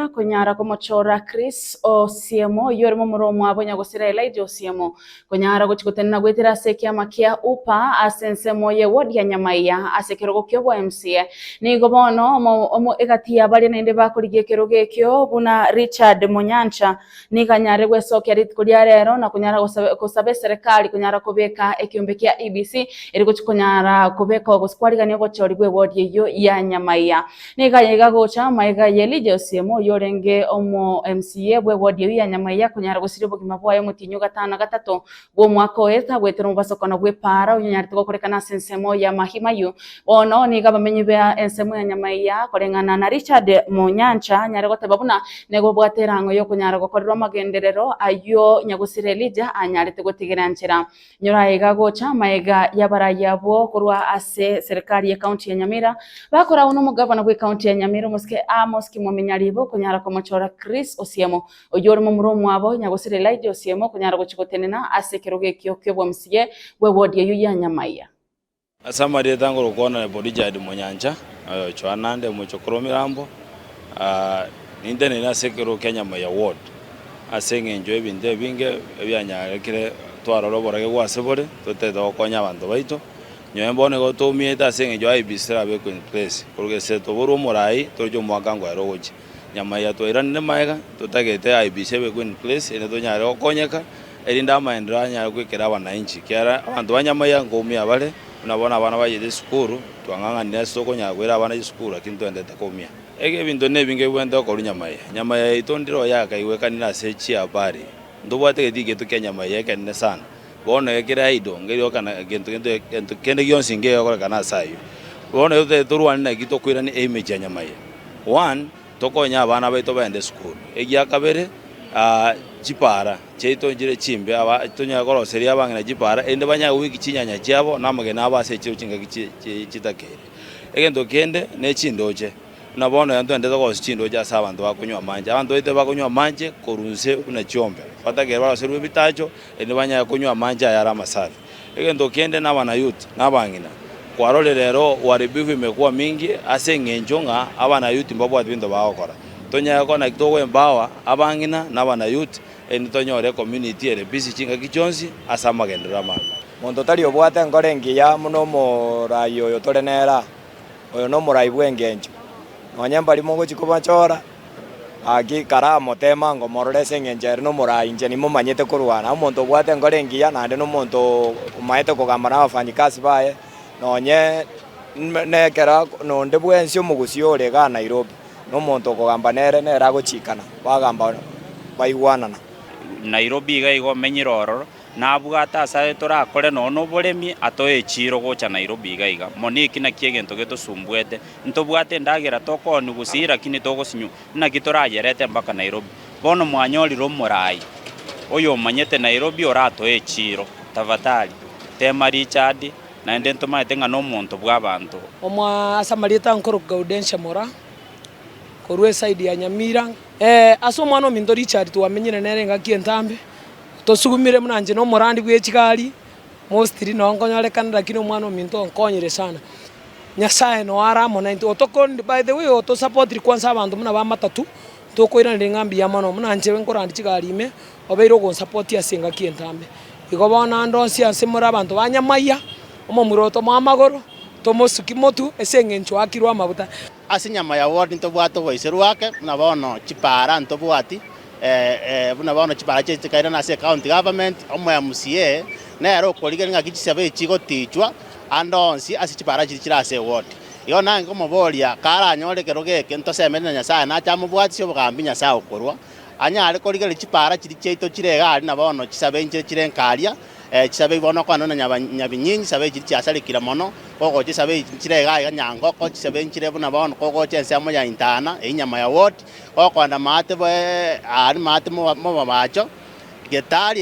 konyara komochora Chris Osiemo, oyio ore momura omwabo onye gosira Elijah Osiemo, konyara gochi gotenena goetera ase ekiama kia UPA ase ensemo ye ward ya Nyamaiya ase ekerogo kia obo MCA. Nigo bono omo omo egati yabaria naende bakorigia ekerogo ekio buna Richard Munyancha, Nigo nyare gwesokia rituko ria rero na konyara gosaba gosaba eserekari konyara kobeka ekeombe kia EBC ere gochia konyara kobekwa gose kwarigania obochori bwe wodi eyio ya Nyamaiga. Nigo aye iga gocha amaiga ye Elijah Osiemo oyio orenge omo MCA bwe wodi eyio ya Nyamaiga konyara gosiria obogima bwaye omotienyi o gatano na gatato bw'omwaka oye tagwetera omobasokano bw'epaara onyanyarete gokorekana ase ensemo y'amagima ayio. Bono nigo abamenyi ba ensemo ya nyama eya, koreng'ana na Richard Munyancha, anyare goteba buna nigo obwate erang'o y'okonyara gokorerwa amagenderero ayio nyagusire Elija anyarete gotigera nchera. Nyora aiga gocha amaega y'abarai abwo korwa ase serikari y'ekaunti ya Nyamira, bakoragwa n'omogavana bw'ekaunti ya Nyamira, omosike Amos Kimominyariiba, okonyara komochora Chris Osiemo. Oyio ore momura omwabo, nyagosera Elija Osiemo, okonyara gochia gotenena ase ekerogo ekio ki'obwamsiye bw'ewodi eyio ya Nyamaiya. Ase amarieta nkorokwana Neburijadi Monyancha, Johanande omochokoro o mirambo, nintenene ase ekerogo kia Nyamaiya Ward, ase engencho y'ebinto ebinge ebianyarekire twarore oborageku ase bore, totaete gokonya abanto baito. Nyowe bono igo toumiete ase engencho IEBC terabe equench place, korwa gese toborwe omorai toroche omwaka ngoera ogochia. Nyamaiga twairanire magega, totagete aibise ebe Queen Place erinde tonyare gokonyeka, erinde amaendereo anyare goikera abanainchi, ekiagera abanto ba Nyamaiga nkoumia bare, buna bono abana bachete chisukuru, twang'ang'anire ase tokonyara koira abana chisukuru lakini toendete koumia. Iga ebinto nebi nkebuente gokorwa Nyamaiga. Nyamaiga yaito ndire oyo akaigwekanire ase chiabari. Ntobwate egetigi geitu kia Nyamaiga ekenene sana. Bono ekere aido, ngerioka na gento gento, gento kende gionsi nkegekorekana ase ayio. Bono ekero totari torwane naki tokoirana emechie ya nyama eye, one, tokonye abana baito baende esukuru, egia kabere, ah, chipara chiaito nchire chimbe, aba tonyare koroseria abang'ina chipara erinde banyare goika chinyanya chiabo na amagena abo ase echiro chingaki chi chi chitakeire. Egento kende ne chindoche, Buna bono yaani twenderete koorosia chindooche ase abanto bakonywa amache. Abanto baito bakonywa amache korwa nse buna chiombe, batakeire baroserwe ebitacho, erinde banyare konywa amache ayare amasafi. Egento kende nabanayuti na abang'ina, kwarorire rero uharibifu imekuwa mingi ase eng'encho ng'a abanayuti mbabwati binto bagokora. Tonyare gokora naki togo-empower abang'ina na abanayuti erinde tonyore ecommunity ere busy chingaki chionsi ase amagenderero amabe. Monto tari obwate enkoro engiya buna omoraai oyo tore nere aa. Oyo nomorai bw'engencho. Nonya mbari mogochia komachora, gaki karamoteema ng'a omorore ase engencho ere nomorai, inche nimomanyete korwana. Omonto obwate enkoro engiya naende nomonto omaete kogamba nabafanyikasi baye, nonye nekero nonde bwensi omogusii ore igaa Nairobi, nomonto okogamba nere, nere agochiikana, bagamba baigwanana. Nairobi iga iga omenyire ororo. Nabwate ase aye torakore nonya noboremi atoe echiiro gocha Nairobi iga iga. Mono eki nakio egento getosumbuete. Ntobwate endagera tokooni gose iraki nitogosinywa. Naki torayerete mpaka Nairobi. Bono mwanyorire omorai oyomanyete Nairobi oratoe echiiro. Tafatari, teema Richard naende ntomanyete ng'a nomonto bw'abanto. Omo ase amarieta ankoro Gaudensia Mora, korwa esaidi ya Nyamira. Ee, ase omwana ominto Richard twamenyire nere engaki entambe, Tosugumire buna inche nomorandi bw'echigari, mostri, nao nkonyorekana, lakini Omwana-o-ominto onkonyire sana. Nyasae noo are amo naintwe. Otokorende, by the way, otosapotiri kwansa abanto buna bamatatu, ntokoiraneria ng'a mbuya mono, buna inche nkorandia chigari ime, obeire ogonsapoti ase engaki entambe. Igo bono ande onsi ase more abanto ba nyamaiga, omomura otomoa amagoro, tomosuki motu ase eng'encho oakirwe amabuta. Ase enyama ya world ntobwate oboiserwa ake buna bono chipara ntobwati eh buna bono chipara chie chikairana ase ecounty government omo mca nere okorigeria ngaki chisabo echi chigotichwa ande onsi ase chipara chiri chire ase eward igo nage nkomoboria karanyore ekerogo eke ntosemeri na nyasaye nache amobwatisie obogambi nyasaye okorwa anyare korigereria chipara chiri chiaito chire iga aria na bono chisabo enchire chire nkaria. Chisabe igo nokwana na nyabinyiinyi, chisabe echi chiasarekire mono, kogocha chisabe echi nchire igaa iga nyangoko, chisabe nchire buna bono kogocha ensemo ya intana, eyio nyama ya wort, kokonda maate bo aria maate mobabacho, getari,